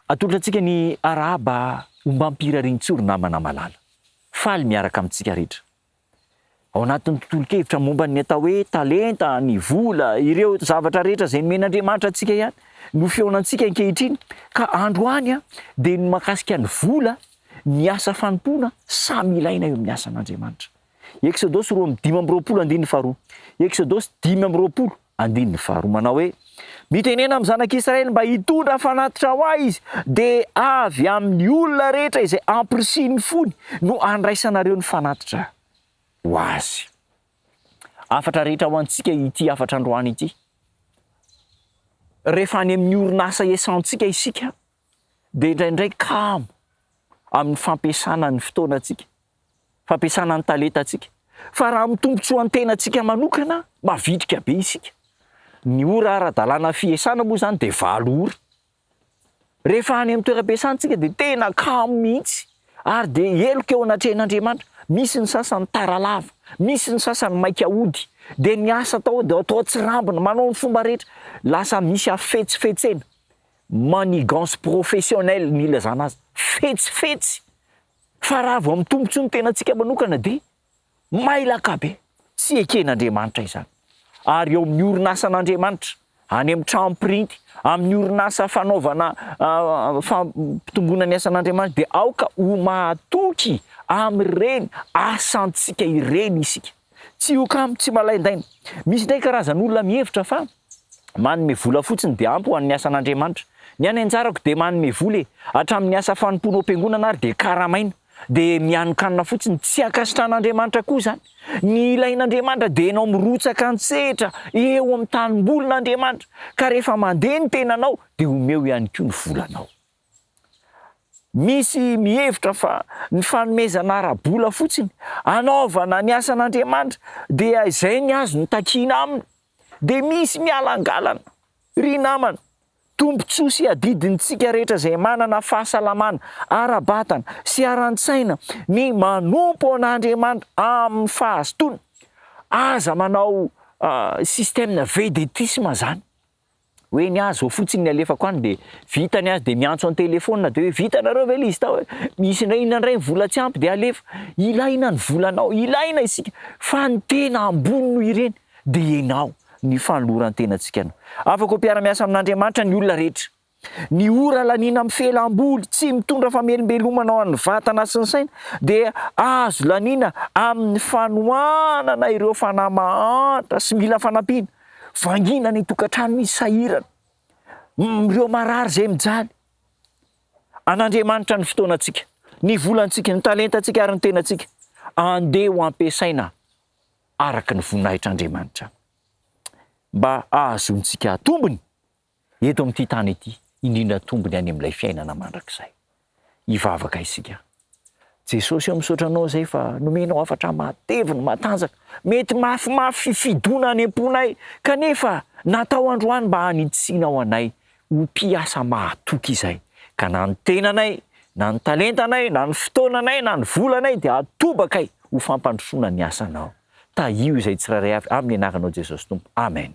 Atolotra antsika ny arahaba ombam-pirarian-tsoro namana malala. Faly miaraka amintsika rehetra. ao anatin'ny tontolon-kevitra momba ny atao hoe talenta, ny vola, ireo zavatra rehetra izay nomen'Andriamanitra antsika ihany no fihaonantsika ankehitriny. Ka androany dia ny mahakasika ny vola, ny asa fanompoana, samy ilaina eo amin'ny asan'Andriamanitra. Eksodosy roa amby dimy amby roapolo andininy faharoa. Eksodosy dimy amby roapolo. Andininy faharoa manao hoe, Mitenena amin'ny zanak'Israely mba hitondra fanatitra ho ahy izy, dia avy amin'ny olona rehetra izay ampirisihiny fony no handraisanareo ny fanatitra ho azy. Hafatra rehetra ho antsika ity hafatra androany ity. Rehefa any amin'ny orinasa esantsika isika dia indraindray kamo amin'ny fampiasana ny fotoanantsika, fampiasana ny talentantsika. Fa raha amin'ny tombontsoan-tenantsika manokana, mavitrika be isika. Ny ora ara-dalàna fiasana moa izany dia valo ora. Rehefa any amin'ny toeram-piasana isika dia tena kamo mihitsy ary dia heloka eo anatrehan'Andriamanitra. Misy ny sasany tara lava, misy ny sasany maika hody, dia ny asa atao dia atao atsirambina, manao ny fomba rehetra, lasa misy hafetsifetsena. Manigance professionnelle ny ilazana azy, fetsy fetsy, fa raha vao mitombotsoa ny tenantsika manokana dia mailaka be, tsy eken'Andriamanitra izany. Ary eo amin'ny orinasan'Andriamanitra, any amin'ny trano printy, amin'ny orinasa fanaovana fampitomboana ny asan'Andriamanitra dia aoka ho mahatoky amin'ireny asantsika ireny isika. Tsy ho kamo, tsy malaindaina. Misy indray karazan'olona mihevitra fa Manome vola fotsiny dia ampy ho an'ny asan'Andriamanitra. Ny any anjarako dia manome vola e! Hatramin'ny asa fanompoana ao am-piangonana ary dia karamaina. Dia mihanokanona fotsiny. Tsy ankasitran'Andriamanitra koa izany. Ny ilain'Andriamanitra dia ianao mirotsaka an-tsehatra eo amin'ny tanimbolin'Andriamanitra. Ka rehefa mandeha ny tenanao dia omeo ihany koa ny volanao. Misy mihevitra fa ny fanomezana ara-bola fotsiny hanaovana ny asan'Andriamanitra dia izay ny azony takiana aminy. Dia misy mialangalana. Ry namana, tombontsoa sy adidintsika rehetra izay manana fahasalamana ara-batana sy ara-tsaina ny manompo an'Andriamanitra amin'ny fahazotoana. Aza manao système vedettisme izany. Hoe ny ahy zao fotsiny ny alefako any dia vita ny azy dia miantso an telephone dia hoe vita nareo ve le izy tao misy indray inona indray ny vola tsy ampy dia alefa ilaina ny volanao ilaina isika fa ny tena ambony noho ireny dia enao ny fanolorantenantsika no afaka ho mpiaramiasa amin'Andriamanitra ny olona rehetra ny ora laniana amin'ny fialamboly tsy mitondra famelombelomana ho an'ny vatana sy ny saina dia azo laniana amin'ny fanohanana ireo fanahy mahantra sy mila fanampiana Vangina ny tokantrano misy sahirana, ireo marary izay mijaly. An'Andriamanitra ny fotoanantsika, ny volantsika, ny talentantsika ary ny tenantsika. Andeha ho ampiasaina araka ny voninahitr'Andriamanitra mba hahazoantsika tombony Eto amin'ity tany ity, indrindra tombony any amin'ilay fiainana mandrakizay. Hivavaka isika. Jesosy o, misaotra Anao izay fa nomenao hafatra matevina, matanjaka, mety mafimafy fifidiona any am-ponay, kanefa natao androany mba hanitsianao anay ho mpiasa mahatoky izay, ka na ny tenanay, na ny talentanay, na ny fotoananay, na ny volanay dia atobakay ho fampandrosoana ny asanao. Tahio izay tsirairay avy, amin'ny Anaranao Jesosy Tompo. Amen.